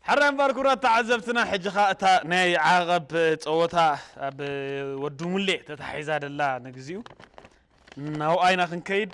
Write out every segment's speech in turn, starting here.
ሕራይ እምበኣር ክቡራት ተዓዘብትና ሕጂ ከኣ እታ ናይ ዓቐብ ጸወታ ኣብ ወዲ ሙሌ ተታሒዛ ደላ ንግዚኡ ናብኣ ኢና ክንከይድ።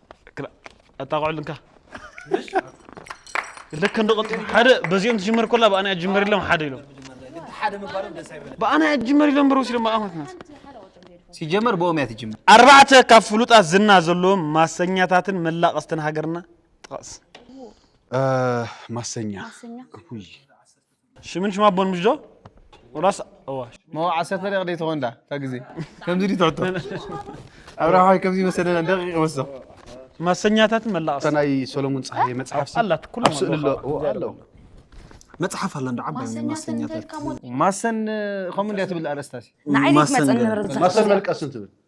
ኣጣቕዕሉ እንካ ለከ እንደቐጡ ሓደ በዚኦም ትጅመር ኮላ ብኣና ኣጅመር ኢሎም ሓደ ኢሎም ብኣና ኣጅመር ኢሎም በር ወሲዶም ኣማትናት ሲጀመር ብኦም እያ ትጅመር ኣርባዕተ ካብ ፍሉጣት ዝና ዘለዎም ማሰኛታትን መላቐስትን ሃገርና ጥቐስ ማሰኛ ሽምን ሽማ ኣቦን ምሽ ዶ ወላስ እዋ ሞ ዓሰርተ ደቂቕ ደይ ትኾን ዳ እታ ግዜ ከምዚ ድዩ ትሕቶ ኣብርሃዋይ ከምዚ መሰለና ደቂቕ ወስዶ ማሰኛታትን መላቕስ ናይ ሰሎሙን ፀሃየ መፅሓፍ ኣላት ኩሉ ስእሊ ኣሎ መፅሓፍ ኣላ እንዶ ዓባይ ማሰኛታት ማሰን ከምኡ እንድያ ትብል ኣርእስታሲ ንዓይ ደይ ትመፀኒ ርዛዕ ማሰን መልቀስን ትብል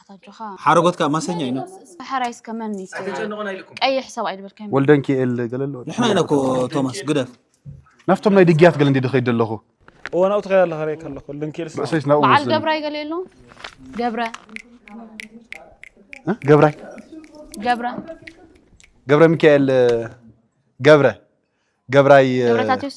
ኣታጆኻ ሓረጎት ከ ማሰኛ እዩ ፈሐራይስ ከመን ቀይሕ ሰብኣይ ድበልካ ወልደን ኪኤል ገለ ኣሎ ንሕና ኢና እኮ ቶማስ ግደፍ ናፍቶም ናይ ድግያት ገለ እንዲ ድኸይድ ኣለኹ እዋናው ትኸይድ ኣለኻ ርእ ከለኹ ልንኪኤል ርእሰይስ ናብኡ በዓል ገብራይ ገለ የሎ ገብረ ገብራይ ገብረ ገብረ ሚካኤል ገብረ ገብራይ ገብረታትዮስ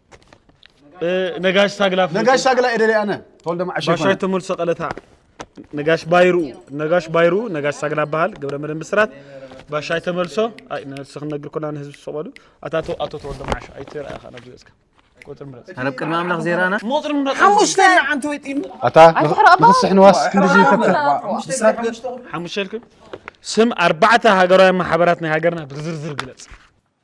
ነጋሽ ሳግላ ነጋሽ ሳግላ ኤደለ ኣነ ተወልደ ማዓሽ ባሻይ ተመልሶ ቀለታ ነጋሽ ባይሩ ነጋሽ ባይሩ ነጋሽ ሳግላ በሃል ገብረ መድን ብስራት ባሻይ ተመልሶ ኣይ ነፍሲ ክንነግር ኮና ንህዝቢ ዝሰቀሉ ኣታቶ ኣቶ ተወልደ ማዓሽ ኣይትርኣ ኢኻ ናብ ዝበጽካ ቁጥር ምረጽ ኣረብ ቅድሚ ኣምላኽ ዜራና ሞጥር ምረጽ ሓሙሽተ ንዓንቲ ወይ ጢም ኣታ ንኽስሕ ንዋስ ክንድዚ ይፈክር ሓሙሽተ ኢልኩም ስም ኣርባዕተ ሃገራውያን ማሕበራት ናይ ሃገርና ብዝርዝር ግለጽ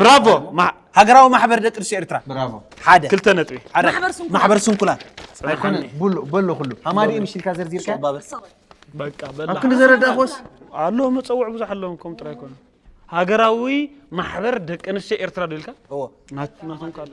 ብራቮ ማ- ሃገራዊ ማሕበር ደቂ ኣንስትዮ ኤርትራ ብራቮ ሓደ ክልተ ነጥቢ ሓደ ማሕበር ስንኩላን። ማሕበር ስንኩላን ኣይኮነ ብሉ በሎ ኩሉ ሃማዲ ምሽ ኢልካ ዘርዚርካ ሶባበ በቃ ኣብ በላ ክንዲ ዘረዳእኮስ ኣሎ መፀውዕ ብዙሕ ኣለዎም ከም ጥራይ ኮኑ ሃገራዊ ማሕበር ደቂ ኣንስትዮ ኤርትራ ዶ ኢልካ እዎ ናት- ናቶም ካለ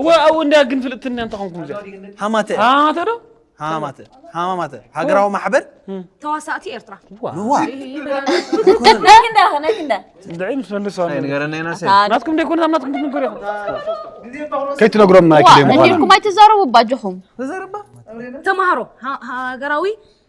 እወ እንዳ ግን ፍልጥትና እንተ ኾንኩም እዚኣ ሃማተ ሃማተ ዶ ሃማተ ሃማተ ሃገራዊ ማሕበር ተዋሳእቲ ኤርትራ ንዋ ድዒ ምስ መልሶ ናትኩም ደይኮነ ኣብ ናትኩም ትንገሩ ኢኹም ከይትነግሮም ናይ ክልኤ ምዃኑ ኢልኩም ኣይትዛረቡ ባጆኹም ተማሃሮ ሃገራዊ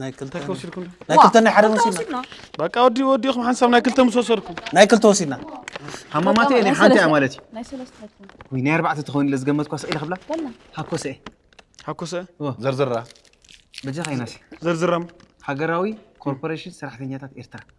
ናይ ክልተ እንታይ ከወሲድኩም ዶ? ናይ ክልተ ናይ ሓደ ክልተ ወሲድና ወሲድና በቃ ወዲ ወዲኹም ሓንሳብ ናይ ክልተ ምስ ወሰድኩም ናይ ክልተ ወሲድና ሃማማተይ ናይ ሓንቲ እያ ሰለስተ- ማለት እዩ ናይ ሰለስተ ሃትኩም ወይ ናይ ኣርባዕተ ትኸውን ኢለ ዝገመትኳ ስቕ ኢለ ክብላ በላ ሃኮሰ እየ ሓኮሰ እወ ዘርዝራ በጃኻ ይናሲ ዘርዝራም ሃገራዊ ኮርፖሬሽን ሰራሕተኛታት ኤርትራ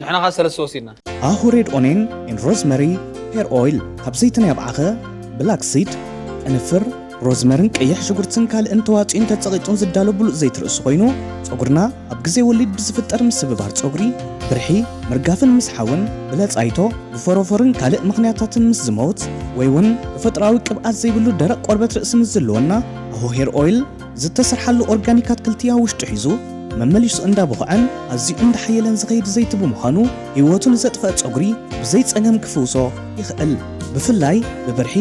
ንሕና ከኣ ሰለስተ ወሲድና። ሃሁ ሬድ ኦኔን ኤን ሮዝመሪ ሄር ኦይል ካብ ዘይቲ ናይ ኣብዓኸ፣ ብላክ ሲድ፣ ቅንፍር፣ ሮዝመርን ቀይሕ ሽጉርትን ካልእን ተዋጽዩን ተጸቒጡን ዝዳሎ ብሉጽ ዘይቲ ርእሲ ኮይኑ ጸጉርና ኣብ ግዜ ወሊድ ብዝፍጠር ምስብባር ጸጉሪ፣ ብርሒ፣ ምርጋፍን ምስሓውን፣ ብለጻይቶ፣ ብፎሮፎርን ካልእ ምኽንያታትን ምስ ዝመውት ወይ'ውን ተፈጥሮኣዊ ቅብኣት ዘይብሉ ደረቕ ቆርበት ርእሲ ምስ ዝልወና ሃሁ ሄር ኦይል ዝተሰርሓሉ ኦርጋኒክ ኣትክልቲ ኣብ ውሽጡ ሒዙ መመሊሱ እንዳቦኸዐን ኣዝዩ እንዳሓየለን ዝኸይድ ዘይቲ ብምዃኑ ህይወቱ ንዘጥፈኣ ፀጉሪ ብዘይ ፀገም ክፍውሶ ይኽእል። ብፍላይ ብብርሒ፣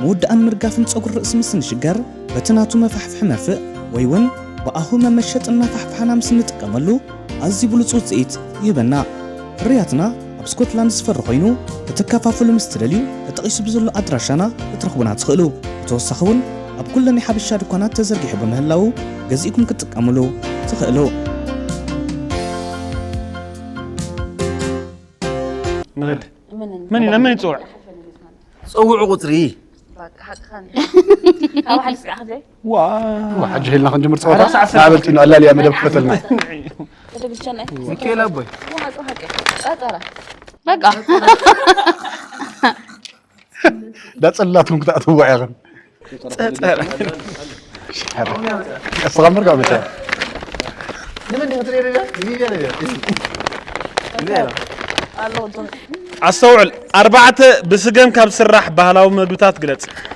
ምውዳእን ምርጋፍን ፀጉሪ ርእሲ ምስ እንሽገር በቲ ናቱ መፋሕፍሒ መርፍእ ወይ እውን ብኣሁ መመሸጢ እናፋሕፋሕና ምስ እንጥቀመሉ ኣዝዩ ብሉፅ ውፅኢት ይህበና። ፍርያትና ኣብ ስኮትላንድ ዝፈሪ ኮይኑ ክትከፋፍሉ ምስ ትደልዩ ተጠቒሱ ብዘሎ ኣድራሻና ክትረኽቡና ትኽእሉ። ብተወሳኺ እውን ኣብ ኩለን ናይ ሓበሻ ድኳናት ተዘርጊሑ ብምህላዉ ገዚእኩም ክትጥቀምሉ ትኽእሉ። ንግድ መን ኢና መን ይፅውዕ ፅውዑ ቁፅሪ ካብ ሓቂ ስጋዕ ክዘይ ዋይ ሕጂ ሄልና ክንጅምር ፀወታ ናበልቲ ኑ ኣላልያ መደብ ክፈተልና ሚካኤል ኣቦይ በቃ ዳፅላትኩም ክትኣትዋ ኢኹም እስኻ ምርጋ መታ ኣስተውዕል ኣርባዕተ ብስገም ካብ ዝስራሕ ባህላዊ መግብታት ግለፅ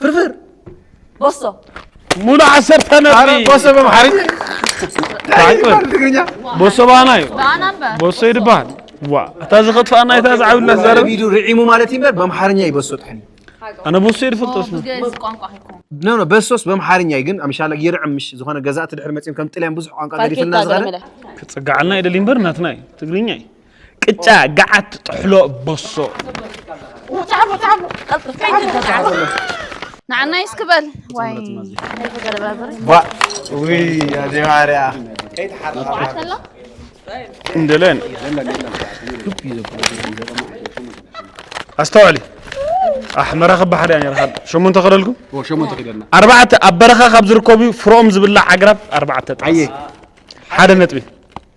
ፍርፍር ቦሶ ሙሉ ዓሰርተ ነጥቢ ቦሶ በምሓሪ ትግርኛ ቦሶ ባና እዩ ባና እምበር ቦሶ እዩ ድበሃል ዋ እታ ዝኸጥፋና እታ ዝዓብላ ዘረብ ቪዲዮ ርዒሙ ማለት እዩ እምበር በምሓርኛ እዩ በሶ ጥሕኒ ኣነ ቦሶ እዩ ዝፈልጦ ስሙ ብግእዝ ቋንቋ ሂኩም ኖ ኖ በሶስ በምሓርኛ እዩ ግን ኣምሻላ ይርዕም ምሽ ዝኾነ ገዛእቲ ድሕሪ መፅኦም ከም ጥልያን ብዙሕ ቋንቋ ገዲፍልና ዝኸደ ክፅጋዓልና ይደሊ እምበር ናትና እዩ ትግርኛ እዩ ቅጫ ገዓት ጥሕሎ በሶ ንዓና ይስክበል ዋይ እንደለን ኣስተውዕሊ ኣሕመራ ክብ ሓደ እያ ነራ ሸሞንተ ክደልኩ ኣርባዕተ ኣብ በረኻ ካብ ዝርከቡ ፍሮኦም ዝብላዕ ኣግራብ ኣርባዕተ ጥቅስ ሓደ ነጥቢ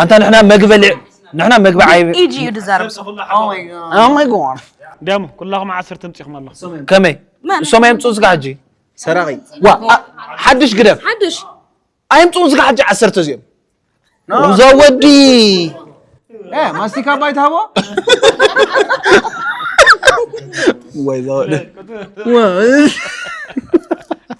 ኣንታ ንሕና መግቢ በሊዕ ንሕና መግቢ ዓይብ ኢጂ እዩ ድዛረብ ሰብ ኩሉ ሓቦ ኦይ ኦ ማይ ጋድ ደሙ ኩላኹም ዓስር ትምፂኹም ኣለኹም ከመይ እሶም ኣየምፅኡ ዝጋ ሕጂ ሰራቂ ዋ ኣ- ሓድሽ ግደፍ ሓድሽ ኣየምፅኡ ዝጋ ሕጂ ዓሰርተ እዚኦም እዛ ወዲ እ ማስቲካ ባይ ትሃቦ ወይ እዛ ወዲ ዋ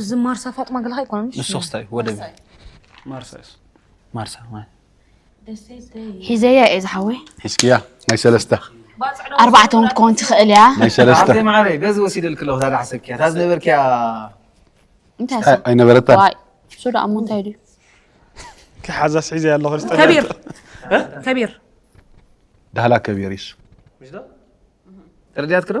እዚ ማርሳ ፋጥማ ገለኻ ኣይኮነን ንሶስ እንታይ ወደብ ማርሳ ሒዘያ እየ ዝሓወይ ሒዝክያ ናይ ሰለስተ ኣርባዕተ እውን ክትከውን ትኽእል እያ ናይ ሰለስተ ማዕረይ በዚ ወሲደልክ ኣለኹ እታ ዳሕሰብክያ እታ ዝነበርክያ እንታይ ኣይነበረታን እሱ ደኣ እሞ እንታይ ድዩ ክሓዛስ ሒዘያ ኣለኹ ከቢር ከቢር ዳህላ ከቢር ይሱ ተረዲያትክ ዶ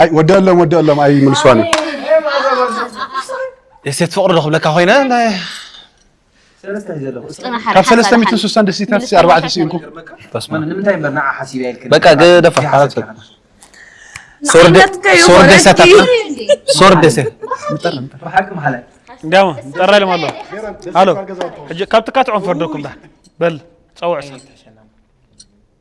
ኣይ ወደኣሎም ወደኣሎም ኣይ ምልስዋን እዩ ደሴት ፍቅሪ ዶ ክብለካ ኮይነ ናይ ካብ ሰለስተ ሚእትን ስሳን ደሴታት ሲ ኣርባዕተ ስኢንኩ በቃ ገደፋ ሶር ደሴት ሶር ደሴት እንዲያማ ጠራ ኢሎም ኣሎ ኣሎ ሕጂ ካብ ትካትዖም ፈርደኩም ዳ በል ፀውዕ ሰብ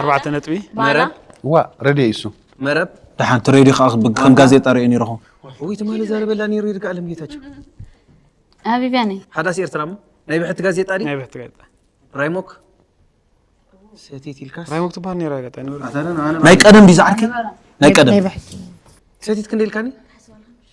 ኣርባዕተ ነጥቢ መረብ ዋእ ረድዮ እዩ እሱ መረብ ደሓን እቲ ሬድዮ ከዓ ከም ጋዜጣ ሪኦ ነይረኹ ወይ ትማሊ ዛረበላ ነይሩ ይርጋ ኣለም ጌታቸው ሃቢብያ ነይ ሓዳስ ኤርትራ እሞ ናይ ብሕቲ ጋዜጣ ድዩ ናይ ብሕቲ ጋዜጣ ራይሞክ ሰቲት ኢልካስ ራይሞክ ትበሃል ነይራ ጋጣ ናይ ቀደም ድዩ ዝዓርከይ ናይ ቀደም ሰቲት ክንደ ኢልካኒ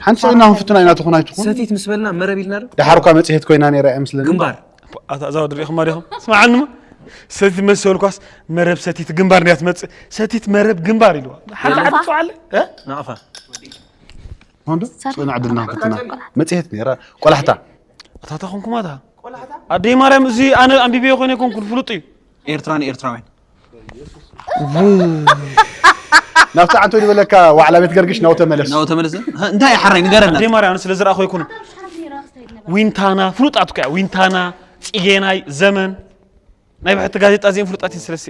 ሓንቲ ሰው ኢና ክንፍትና ኢና ትኹን ኣይትኹን ሰቲት ምስ በልና መረብ ኢልና ዶ ደሓር እኳ መፅሄት ኮይና ነይራ እያ ምስለኒ ግንባር ኣታ እዛ ወዲ ርኢኹማ ዲኹም ስምዓንማ ሰቲት መሰልኳስ መረብ ሰቲት ግንባር እንድያ ትመፅእ ሰቲት መረብ ግንባር ኢልዋ ሓንቲ ዓዲ ፅውዓለ እ? ናቕፋ ሆንዶ ፅና ዕድልና ክንፍትና መፅሄት ነይራ ቆላሕታ ኣታታ ኮንኩማ እታ ኣደይ ማርያም እዚ ኣነ ኣንቢበዮ ኮይነ ኮንኩን ፍሉጥ እዩ ኤርትራን ኤርትራውያን ናብቲ ዓንቶ ዝበለካ ዋዕላ ቤት ገርግሽ ናው ተመለስ ናው ተመለስ እንታይ እዩ ሓራይ ንገረና ኣዴ ማርያም ስለ ዝረኣኹ ይኩኑ ዊንታና ፍሉጣት እኮ ዊንታና ፅጌናይ ዘመን ናይ ብሕቲ ጋዜጣ እዚኦም ፍሉጣት እየን ስለስ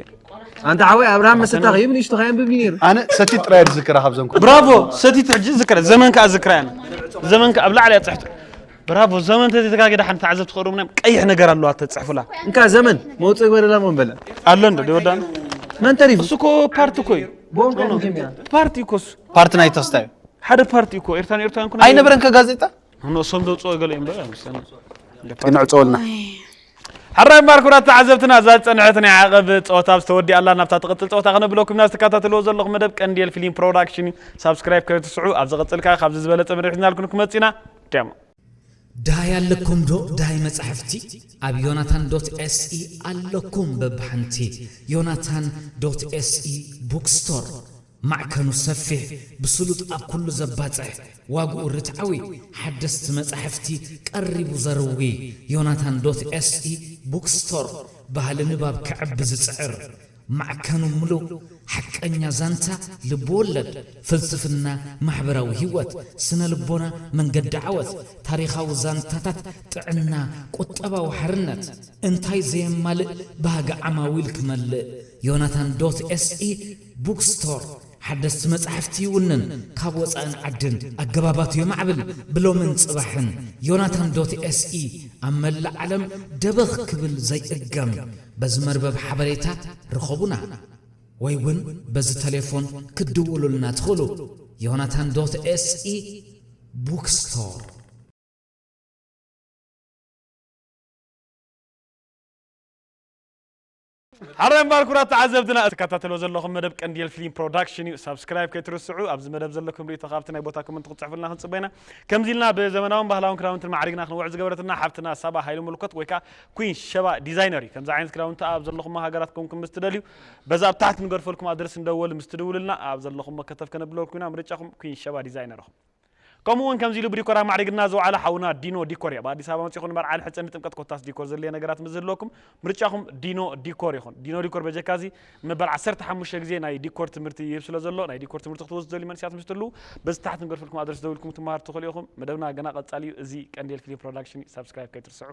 ኣንተ ሓወይ ኣብርሃም መሰታ ከይብ ንእሽቶ ከየንብብ ነይሩ ኣነ ሰቲት ጥራይ ዝዝክራ ካብዘን ብራቮ ሰቲት ሕጂ ዝዝክራ ዘመን ከዓ ዝዝክራ እያ ዘመን ከዓ ኣብ ላዕሊ እያ ፅሕቶ ብራቮ ዘመን ተዘይተጋገደ ሓንቲ ተዓዘብቲ ክቕርቡና እዮም ቀይሕ ነገር ኣለዋ ተፅሕፉላ እንካ ዘመን መውፅኢ ግበረላ ሞ በለ ኣሎ እንዶ ደወዳ መን ተሪፉ እሱ እኮ ፓርቲ እኮ እዩ ፓርቲ እኮ እሱ ፓርቲ ናይ ተስታ እዩ ሓደ ፓርቲ እኮ ኤርትራን ኤርትራን ኩነ ኣይነበረን ከጋዜጣ ንእሶም ዘውፅኦ ገለ እዮም በለ ንዕፀወልና ሕራይ እምበር ኩራት ተዓዘብትና እዛ ዝፀንሐት ናይ ዓቐብ ፀወታ ኣብ ዝተወዲኣላ ናብታ ትቕፅል ፀወታ ክነብለኩም ኢና ዝተከታተልዎ ዘለኹም መደብ ቀንዴል ፊልም ፕሮዳክሽን እዩ ሳብስክራይብ ከይትስዑ ኣብ ዝቕፅል ከዓ ካብዚ ዝበለፀ መደብ ሒዝናልኩም ክመፅእ ኢና ደማ። ዳይ ኣለኩም ዶ ዳይ መጻሕፍቲ ኣብ ዮናታን ዶት ኤስኢ ኣለኩም በብሓንቲ ዮናታን ዶት ኤስኢ ቡክ ስቶር ማዕከኑ ሰፊሕ ብስሉጥ ኣብ ኩሉ ዘባጽሕ ዋግኡ ርትዓዊ ሓደስቲ መጻሕፍቲ ቀሪቡ ዘርዊ ዮናታን ዶት ኤስኢ ቡክ ስቶር ባህሊ ንባብ ከዕቢ ዝጽዕር ማዕከኑ ምሉእ ሓቀኛ ዛንታ ልብወለድ፣ ፍልስፍና፣ ማሕበራዊ ህይወት፣ ስነ-ልቦና፣ መንገዲ ዓወት፣ ታሪኻዊ ዛንታታት፣ ጥዕና፣ ቁጠባዊ ሓርነት፣ እንታይ ዘየማልእ ባህጊ ዓማዊል ክመልእ ዮናታን ዶት ኤስኢ ቡክ ስቶር ሓደስቲ መጻሕፍቲ ይውንን፣ ካብ ወጻእን ዓድን ኣገባባቱ የማዕብል፣ ብሎምን ጽባሕን ዮናታን ዶት ኤስኢ ኣብ መላእ ዓለም ደበኽ ክብል ዘይእገም በዚ መርበብ ሓበሬታ ርኸቡና ወይ ውን በዚ ተሌፎን ክትድውሉልና ትኽእሉ Yonatan dot se Bookstore። ሓራይ እምባር ኩራት ተዓዘብትና እቲ ትከታተልዎ ዘለኹም መደብ ቀንዴል ፍሊም ፕሮዳክሽን እዩ ሳብስክራይብ ከይትርስዑ ኣብዚ መደብ ዘለኩም ሪኢቶ ካብቲ ናይ ቦታ ኮመንት ክትጽሕፉልና ክንጽበ ኢና ከምዚ ኢልና ብዘመናውን ባህላውን ክዳውንትን ማዕሪግና ክንውዕል ዝገበረትና ሓብትና ሳባ ሃይሉ ምልኮት ወይ ከኣ ኩንሽ ሸባ ዲዛይነር እዩ ከምዚ ዓይነት ክዳውንቲ ኣብ ዘለኹሞ ሃገራት ኮንኩም ምስ ትደልዩ በዚ ኣብ ታሕቲ ንገርፈልኩም ኣድረስ ንደወል ምስ ትድውሉልና ኣብ ዘለኹሞ ከተፍ ከነብለወልኩም ኢና ምርጫኹም ኩንሽ ሸባ ዲዛይነር እኹም ከምኡ ውን ከምዚ ኢሉ ብዲኮር ኣማዕሪግልና ዝወዓለ ሓውና ዲኖ ዲኮር እዩ ኣብ ኣዲስ ኣበባ መጺኹም ንመርዓ ንሕጸ ንጥምቀት ኮታስ ዲኮር ዘድልየ ነገራት ምስ ዝህልወኩም ምርጫኹም ዲኖ ዲኮር ይኹን ዲኖ ዲኮር በጀካ እዚ ንመበል ዓሰርተ ሓሙሽተ ግዜ ናይ ዲኮር ትምህርቲ ይህብ ስለ ዘሎ ናይ ዲኮር ትምህርቲ ክትወስዱ ዝደልዩ መንእሰያት ምስ ትህልዉ በዚ ታሕቲ ንገርፈልኩም ኣድረስ ደዊልኩም ክትመሃሩ ትኽእሉ ኢኹም መደብና ገና ቀጻሊ እዩ እዚ ቀንዴል ፊልም ፕሮዳክሽን እዩ ሳብስክራይብ ከይትርስዑ